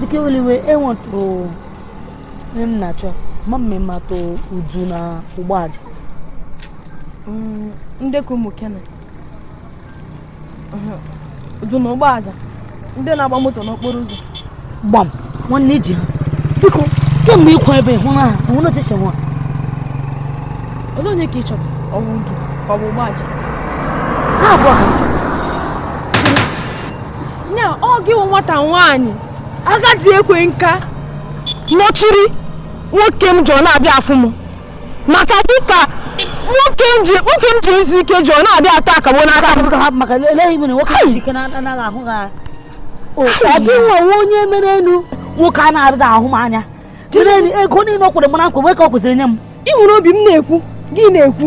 Dike eweli iwe enwetụrụ ihe m na-achọ ma m ma ị matụ udu na ụgbọaja ndekọ ụmụ kene udu na ụgbọ aja ndị na-agba moto n'okporo ụzọ gbam nwanne i ji ha biko kemgbe ị kwụ ebe ahụ na hụ na tishe nwa olee onye ka ị chọrọ ọ bụ udu ka ọ bụ ụgbọ aja ha abụọ ka m chọrọ nya ọ gị wụ nwata nwaanyị agadi ekwe nka nọchiri nwoke m ji ọ na-abịa afụ m maka gị ka nwoke m ji nwoke m ji izu ike ji ọ na-abịa atọ akagbo n'aka m Biko hapụ maka eleghị mere nwoke ji ike na- anaghị ahụ ha ọ gị wụ onye merenụ nwoke a na-abịaghị ahụ m anya jiri ego niile o kwere m na nkwa wee ka o kwesịrị inye m i nwere obi m na-ekwu gị na-ekwu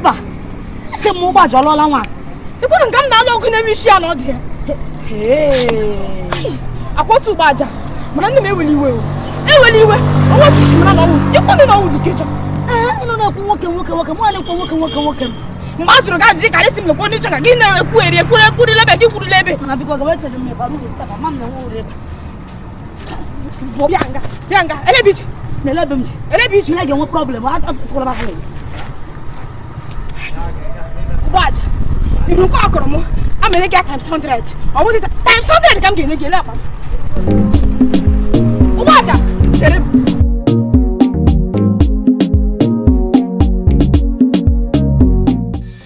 mba ete m ụgbọ aja ọlụọla nwa ịkwụrụ nke m na-alụ ọgụ na-eme isi ya na ọ dị ya akwatu ụgbọ aja mana nne m eweli iwe eweli iwe ọnwa otu ji mara na ọnwụ ịkwụ ndị na ọnwụ dị kejọ ịnụ na-ekwu nwoke nwoke nwoke mụ na-ekwu nwoke nwoke nwoke m mgbe a jụrụ gị ajụjụ ka esi m lekwa onye chọka gị na-ekwu eri ekwuru ekwuru lebe gị kwuru lebe bịa nga bịa nga elebe ị je na elebe m ji elebe ị je na ị ga-enwe problem atụkwala m ahụ ụgbọ aja ihu nke ọ kụrụ m amenye gị times 100 ọ wụ times 100 ka m ga-enye gị ele akpa ụgbọ aja chere m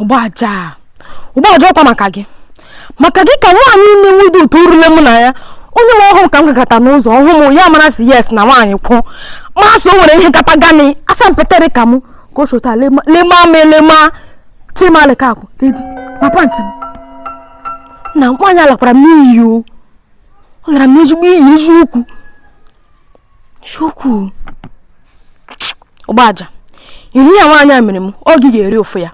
ụgbọaja ụgbọaja ọ kwa maka gị maka gị ka nwaanyị ime nwude ụtọ urule mụ na ya onye nwe ọ hụ ka m gagata n'ụzọ ọ hụ m ya mara sị yes na nwaanyị kwụ masị o nwere ihe gata gani asampetere ka m ka o shi otu a lema m elema timalika akwụ dedi ma pantị m na nwaanyị alakwara m n'iyi o ọ gara m n'ezigbo iyi eziokwu chukwu ụgbọaja iri ya nwaanyị a mere m ọ gị ga-eri ụfụ ya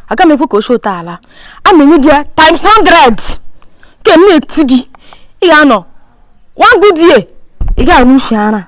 aga m ekwe ka o shi otu a laa amenye gị ya times 100 ka m na-eti gị ị ga-anọ one good year ị ga-anụ ushi ara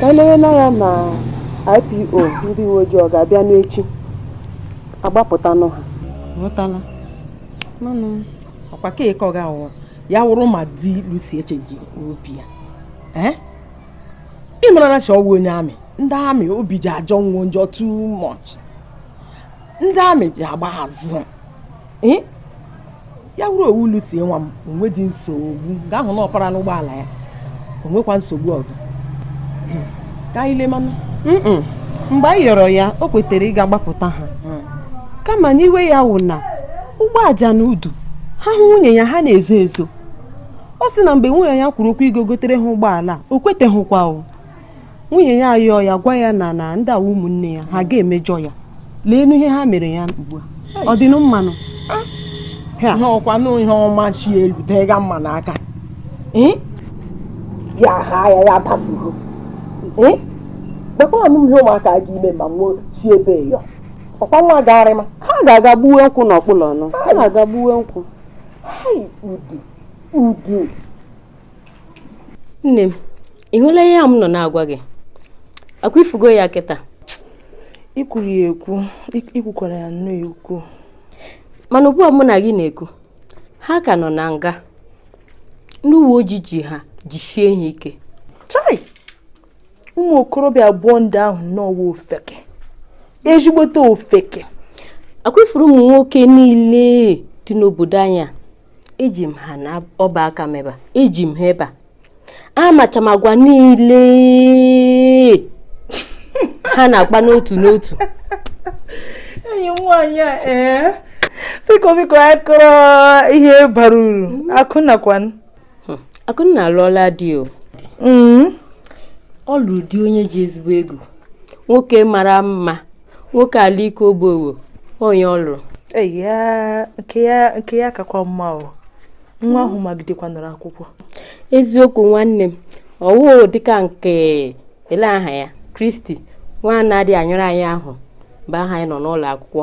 ka anyị na ya na IPO ndị uwe ojii ọ ga-abịa n'echi agbapụtanụ ha ghọtala mana ọkwa ka eke ọ ga-awụ ya wụrụ ma di Lucy echenji obi ya ee ị mara na si ọwụ onye army ndị army obi ji ajọ nwo njọ too much ndị army ji agba azụ ya wụrụ ọwụ Lucy nwa m o nwedị nsogbu gaa hụ na ọ parala ụgbọala ya o nwekwa nsogbu ọzọ ka anyị lemanụ mgbe anyị yọrọ ya o kwetara ịga gbapụta ha hmm. kama n'iwe ya wụ na Ugboaja na Udu ha hụ nwunye ya ha na-ezo ezo ọ sị na mgbe nwunye ya kwuru okwu ịga gotere ha ụgbọala o kweteghịkwa o nwunye ya ayọọ ya gwa ya na na ndị a wụ ụmụnne ya ha ga-emejọ ya lee ihe ha mere ya ugbu a ọ dị mmanụ ihe ọkwanụ ihe ọma chi elu tega mma n'aka ya ha ya ya tafugo kpekwanụ m ihe ụmụaka ga ime ma nwee chi ebe ya ọkwa nwa gagharị ma ha ga-aga gbuwe nkwụ n'ọkpụlọ ọnụ ha ga-aga gbuwe nkwụ udu udu nne m ị hụla ihe a m nọ na-agwa gị akwa ifugo ya kịta ikwuru ya ekwu ikwukwara ya nnọọ ekwu mana ugbu a mụ na gị na-ekwu ha ka nọ na nga ndị uwe ojii ji ha jisie ha ike chai ụmụ okorobịa abụọ ndị ahụ n'ọwụ ofeke ezigbote ofeke akwa ị fụrụ ụmụ nwoke niile dị n'obodo anyị a eji m ha n'ọba aka m ebe a eji m ha ebe a amacha m agwa niile ha na-akpa n'otu n'otu enyi m nwaanyị a ee biko biko anyị kọrọ ihe bara uru akụnna kwanụ Hmm, akụnna alụọla di o Mm. ọ lụrụ di onye ji ezigbo ego nwoke mara mma nwoke ala ike ogbowo onye ọ lụrụ nke ya kakwa mma o nwa ahụ magidekwanụrụ akwụkwọ eziokwu nwanne m ọwụ dịka nke ele aha ya Christy nwa na-adị anyụrụ anya ahụ mgbe ahụ anyị nọ n'ụlọ akwụkwọ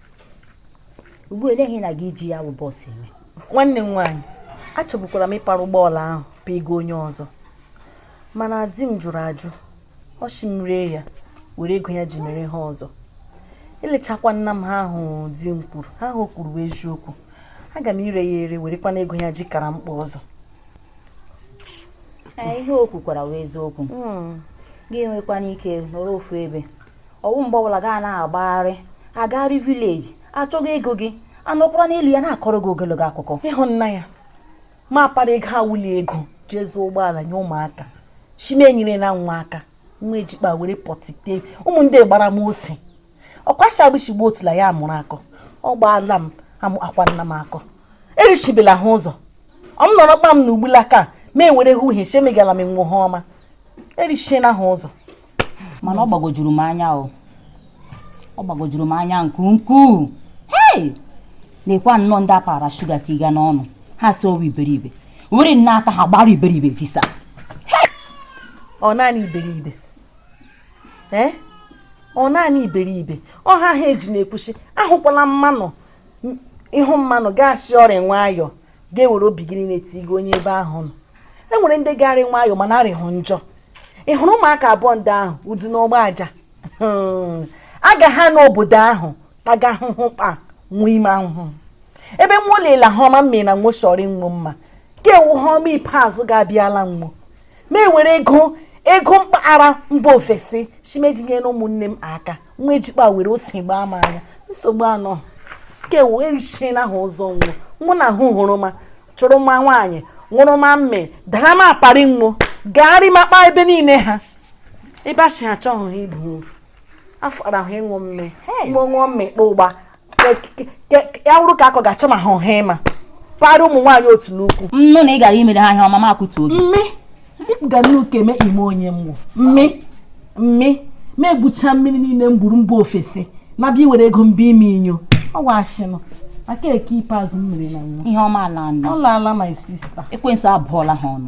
ugbu a olee ihe na-aga iji ya bụ bus eme nwanne m nwaanyị achọbukwara m ịpara ụgbọala ahụ paga onye ọzọ mana di m jụrụ ajụ ọ sị m ree ya were ego ya ji mere ihe ọzọ elechakwana m ihe ahụ di m kwuru ihe ahụ o kwuru wụ eziokwu aga m ire ya ere werekwana ego ya ji kara mkpa ọzọ ihe o kwukwara wụ eziokwu hmm. gị enwekwana ike nọrọ ofu ebe ọ wụ mgbe ọbụla gaa na-agbagharị agagharị vileji achọga ego gị anọkwara n'elu ya na-akọrọ gị ogologo akụkọ ị hụna ya ma akpara ego awụli ego je zụọ ụgbọala nye ụmụaka si m enyere na nwa aka nwa ejikpa were pọtite ụmụ ndị gbara m ose ọkwashi agbịchigbu otula ya mụrụ akọ ọ gbaala m amụ akwa nna m akọ erichibela ha ụzọ ọ m nọrọ kpa m na ugbula ka ma ewere ha uhie chemegala m nwo ihe ọma erichiela ha ụzọ mana ọ gbagojuru m anya o ọ gbagojuru m anya nke ukwuu hei nekwa nnọọ ndị a paara shuga tiga n'ọnụ ha si ọ wụ iberibe were nna ta ha gbara iberibe visa ọ naanị iberibe ee ọ naanị iberibe ọ ya ha ji na-ekwu sị ahụkwala mmanụ ị hụ mmanụ gị asị ọ rị nwayọọ ga-ewere obi gị niile tigo onye ebe ahụ nọ e nwere ndị ga-arị nwayọọ mana arịhụ njọ ị hụrụ ụmụaka abụọ ndị ahụ udu na ụgba aja hmm. aga ha n'obodo ahụ taga ahụhụ kpa nwa ime ahụhụ ebe nwa olila ihe ọma m mere na nwa chọrọ ịnwụ mma ka ewu ihe ọma ikpeazụ ga-abịala nwo m ewere ego m kpagara mba ofesi si m eji nyere ụmụnne m aka nwa ejikpa were ose gbaa m anya nsogbu anọghị erichiena ha ụzọ nwa mụ na ahụ hụrụ ma chụrụ ma nwaanyị ṅụrụ ma mme dara m apari nwo gagharị makpa ebe niile ha ebe a si achọghị ha ibu afọ arahụ ịṅụ mme ṅụọ ṅụọ mme kpa ụgba ya wụrụ ka akọ ga-achọ ma ha ọha ịma para ụmụ nwaanyị otula ukwu nnụ na ị gara imere ha ihe ọma m akwụtu oge mme ịpụga n'ụka eme ime onye mmụ mme mme ma egbucha mmiri niile m gburu mba ofesi na bịa iwere ego mba ime inyo ọ wụ ashị nụ aka eke ikpeazụ m mere na nwa ihe ọma ala nọ ụlọ ala my sister ekwensu abụọla ha ọnụ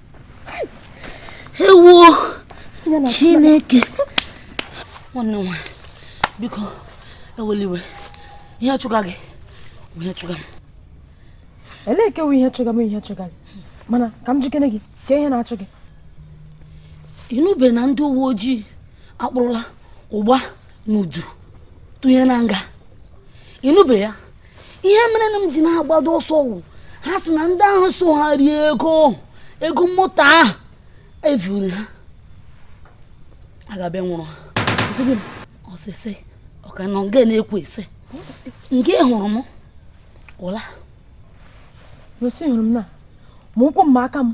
ewuo chineke nwanne nwa biko ewela iwe ihe chụga gị ihe chụga m elee nke wụ ihe chụga m ihe chụga gị mana ka m jụkene gị ka ihe na-achụ gị ị nụbe na ndị uwe ojii akpụrụla ụgba na udu tụnye na nga ị nụbe ya ihe mere na m ji na-agbado ọsọ wụ ha sị na ndị ahụ so ha rie ego ahụ, ego moto ahụ e vuru ha ga-abịa nwụrụ ha Sị gịnị? ọsịsị ọ ka nọ nga na-ekwu sị nga ị hụrụ m ụla Rosi hụrụ m na ma ụkwụ m ma aka m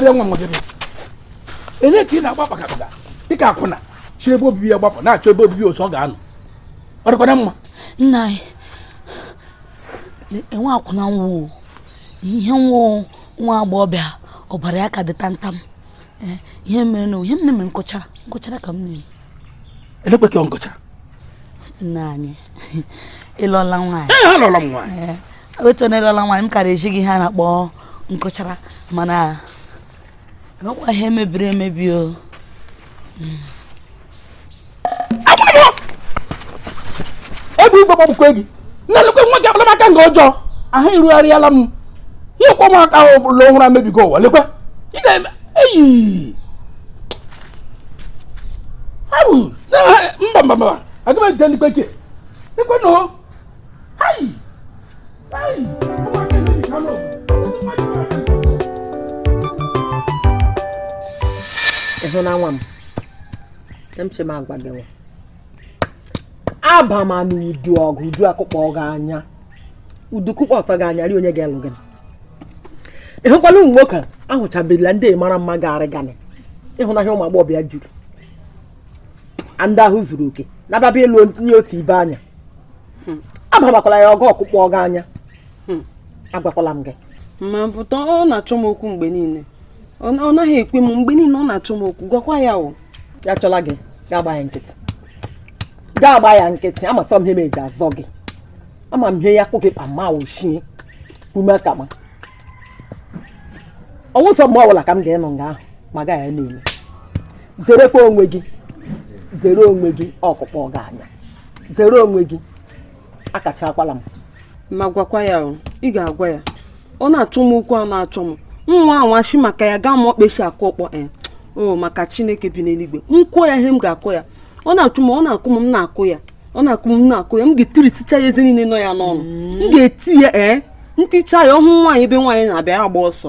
bịa nwa a ele ka ị na-agba kpakakpaka dịka akwụna siri ebe obibi ya gbapụ na-achọ ebe obibi ọzọ ọ ga-anọ ọ dịkwana mma nna anyị enwe akwụna nwa ihe nwa nwa agbọghọbịa ọbara ya ka dị tantam eh, ihe mere na ihe mere nkụcha nkụchara ka m na-eme elekwe ka ọ nkụchara nna anyị ị lụọla nwaanyị ee ha lụọla m nwaanyị eh, otu onye lụọla nwaanyị m kara eji gị ha na-akpọ nkụchara mana ọ wụkwa ihe mebiri emebi o egbe igwe gbagbukwe gị na-elekwe nwa gị akparamaka nke ọjọọ ahụ irugharịala m ihe kwa ụmụaka ahụ bụla ọhụrụ emebigo ụwa lekwe ị na-eme eyi abụ mba mba mba aga m ejide ndị bekee lekwe nụ ị hụna nwa m eshi m agwa gị nwa abamana udu ọgụ udu akụkpọ gị anya udu kụkpọọ gị anya ri onye ga-elụ gị ị hụkwala ụmụ nwoke ahụchabela ndị mara mma ga-arị ganị ịhụnahịa ụmụ agbọghọbịa juru ndị ahụ zuru oke na-ababa ịlụ onye otu ibe anya hmm. abamakwala ya ọgụ ọ kụkpọ gị anya hmm. agwakwala m gị ma pụta ọ na-achọ m okwu mgbe niile ọ naghị ekwe m mgbe niile ọ na-achọ m okwu gwakwa ya o ya chọla gị ga-agba ya nkịtị ga-agba ya nkịtị ama sọ m ihe m eji azọ gị ama m ihe ya kpụ gị kpa ma ochie ume ka ma ọ wụ sọ mgbe ọbụla ka m ga-enọ nga ahụ ma gaa ya niile zerekwa onwe gị zere onwe gị ọ kụkpọ gị anya zere onwe gị akachakwala m ma gwakwa ya o ị ga-agwa ya ọ na-achọ m okwu a na-achọ m nwa anwachi maka ya gaa ma ọkpechi akụ ọkpọ e o maka chineke bi n'eluigwe m kụọ ya ihe m ga-akụ ya ọ na-achụ m ọ na-akụ m m na-akụ ya ọ na-akụ m m na-akụ ya m ga-etirisicha ya eze niile nọ ya n'ọnụ m ga-eti ya ee m ticha ya ọ hụ nwaanyị ebe nwaanyị na-abịa agba ọsọ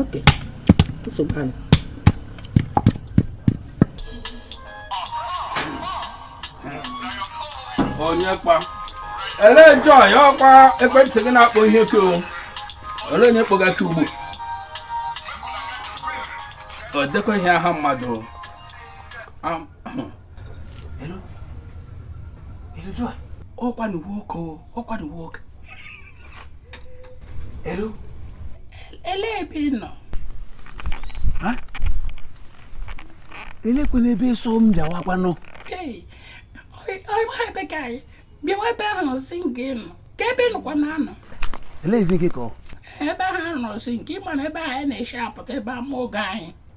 oke nsogbu anụ onye kpa elee joy ọkwa ekwentị gị na-akpọ ihe ke o olee onye kpọga gị ugbu o dekwaghị aha mmadụ o. Am- ọkwa na nwoke ọkwa na nwoke elu ele ebe ị nọ elekwanụ ebe so m bịawakwanụ ọgba ebe ka anyị bịawa ebe ahụ nọsi nke nọ ka ebe nọkwa na anọ ele ezi nke ka ọ ebe ahụ nọsi nke ịma na ebe anyị na-eshi apụta ebe ama oge anyị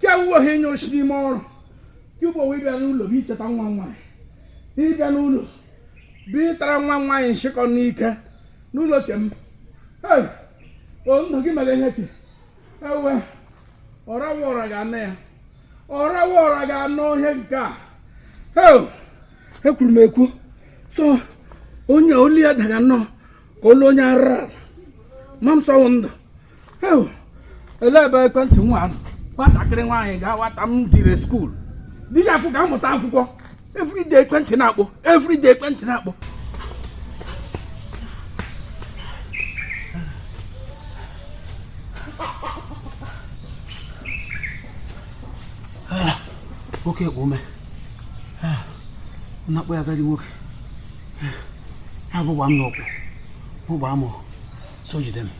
kewuo ha onye oshi n'ime ọrụ kewuo wee bịa n'ụlọ bịa icheta nwa nwaanyị ị bịa n'ụlọ bịa ịtara nwa nwaanyị nshịkọ n'ike n'ụlọ ke m ndụ gị mere ihe ke ewe ọrawa ọra ga-anọ ya ọrawa ọra ga-anọ ihe nke a ekwuru m ekwu so onye olu ya daga nnọọ ka olu onye arara ma m sọwụ ndụ ele ebe ekwentị nwa ahụ nwatakịrị nwaanyị ga-awata m dire school di ya akwụ ga-amụta akwụkwọ everyday ekwentị na-akpọ everyday ekwentị na-akpọ nwoke kpụ ume na-akpọ ya agadi nwoke abụgba m n'ọkwụ ụgbọ amụ so jide m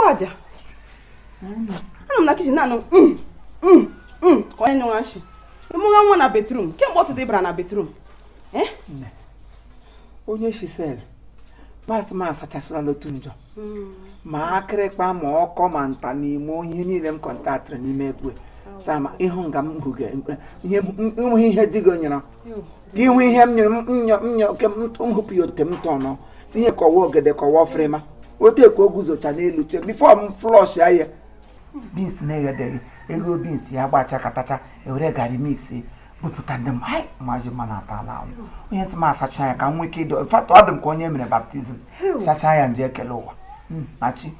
mgbaaja anọ m na kitchen na-anụ mm, mm, mm, ka onye nyụwa nshi ị mụga nwa na bathroom kemgbe ụtụtụ ị bara na bathroom eh? onye shisel pas m asachasịla n'otu njọ ma akịrịkpa ma ọkọ ma nta na imo ihe niile m contactịrị n'ime egwe sama ị hụ nga m hụga ihe enweghị ihe dị gị onyere gị hụ ihe m nyere m nyọ m nyọ ke m m hụpụ ya otu m tọnọ tinye kọwa ogede kọwa ọfịrịma otu ka o guzocha n'elu che before m flush ya ya beans na-eghedeghị eghe beans ya gbacha katacha ewere gari mix bupụta ndị m hai maji mma na ata ala anwụ onye nsị m asacha ya ka m nwee ike ịdị fatụ ọ dị m ka onye mere baptism sachaa ya nje ekele ụwa Mm, na chi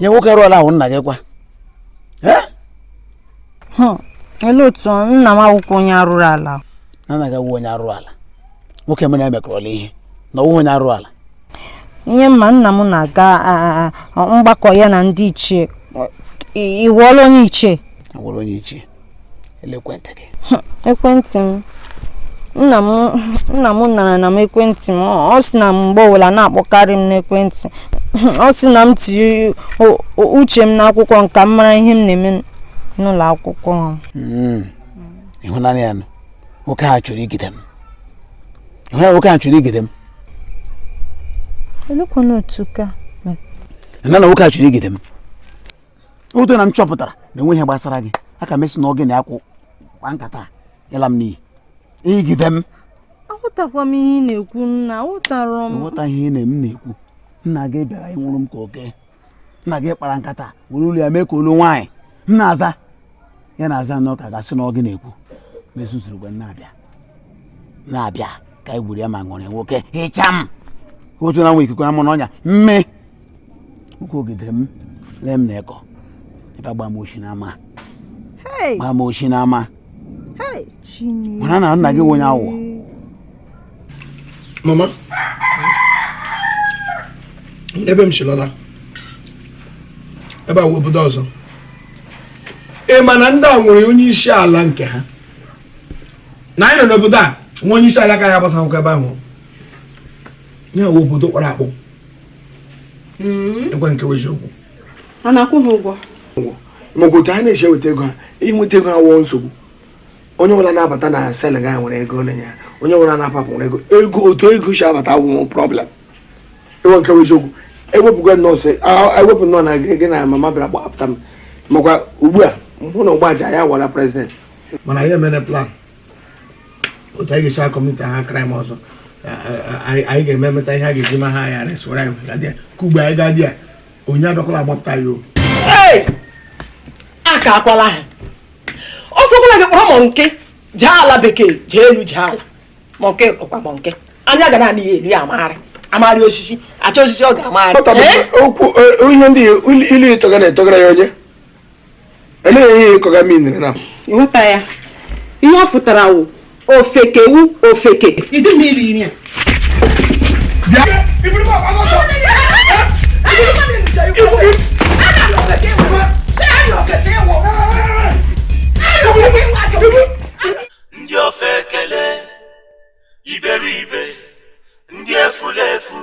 nye nwoke arụrụ ala ahụ nna gị kwa olee otu nna m awụkwa onye arụrụ ala nna gị awụ onye arụrụ ala nwoke mụ na ya emekọrọla ihe na ọ wụ onye arụrụ ala ihe mma nna m na-aga mgbakọ ya na ndị ichie ị wụọla onye ichie awụrụ onye ichie ekwentị gị ekwentị m nna m anarana m ekwentị m ọ sị na mgbe ọbụla na-akpọkarị m n'ekwentị ọ sị na m tinye uche m n'akwụkwọ m ka m mara ihe m na-eme n'ụlọ akwụkwọ hmm. ị hụna ya nwoke a chọrọ igide m ị hụna ya nwoke a chọrọ igide m elekwana otu ka nna na nwoke a chọrọ igide m otu na m chọpụtara na enweghị ihe gbasara gị aka m esi na oge na-akwụ kwa nkata ịla m n'iyi igide m aghọtakwa m ihe ị na-ekwu nna aghọtara m ịghọta ihe na m na-ekwu nna gị bịara ịnwụrụ m ka oke nna gị kpara nkata were olu ya mee ka olu nwaanyị m na-aza ya na-aza nnọọ ka a ga-asị na ọ gị na-ekwu m ezuzurukwa na-abịa na-abịa ka anyị gburu ya ma ṅụrị nwoke hịcha m otu na nwa ikuku ama n'ọnya mme ụkwụ ogidere m lee m na ịkọ ebe agba m oshi n'ama gba m oshi n'ama mana na nna gị wụ onye awọ mama ebe m si lọla ebe a wụ obodo ọzọ ị ma na ndị a nwere onye isi ala nke ha na anyị nọ n'obodo a nwere onye isi ala ka ya gbasa akwụkwọ ebe ahụ ya wụ obodo kpọrọ akpọ enwe nke wụ eziokwu a na-akwụ ha ụgwọ maọbụ otu ha na-esi eweta ego ha inweta ego ha wụọ nsogbu onye ọbụla na-abata na sel ga-ewere ego nye ya onye ọbụla na-apụ nwere ego ego otu ego si abata wụ problem enwe nke bụ eziokwu ewepụgo nnọọ sị ewepụ nnọọ na gị na mama bịara gbapụta m maka ugbu a mụ na ụgbọaja ya wụrụ president mụ na ya emere plan otu anyị ga-esi commit ha crime ọzọ anyị ga-eme emeta ihe a ga-eji ma ha arrest ya ka ugbo anyị gaa di ya onye abịakwala agbapụta ya o aka akwala ha ọ sọkwala gị kpọrọ monkey jee ala bekee jee elu jee ala monkey wụkwa monkey anya ga na-anị ya elu ya amagharị amagharị osisi achọ osisi ọ ga-amagharị okwu e, ihe ndị ilu ịtụga na-atụgara ya onye elee ihe ịkọga mmiri na ịghọta ya ihe ọ fụtara wụ ofeke wụ ofeke ịdị mma iri nri a ndị ofeke le iberibe ndị efulefu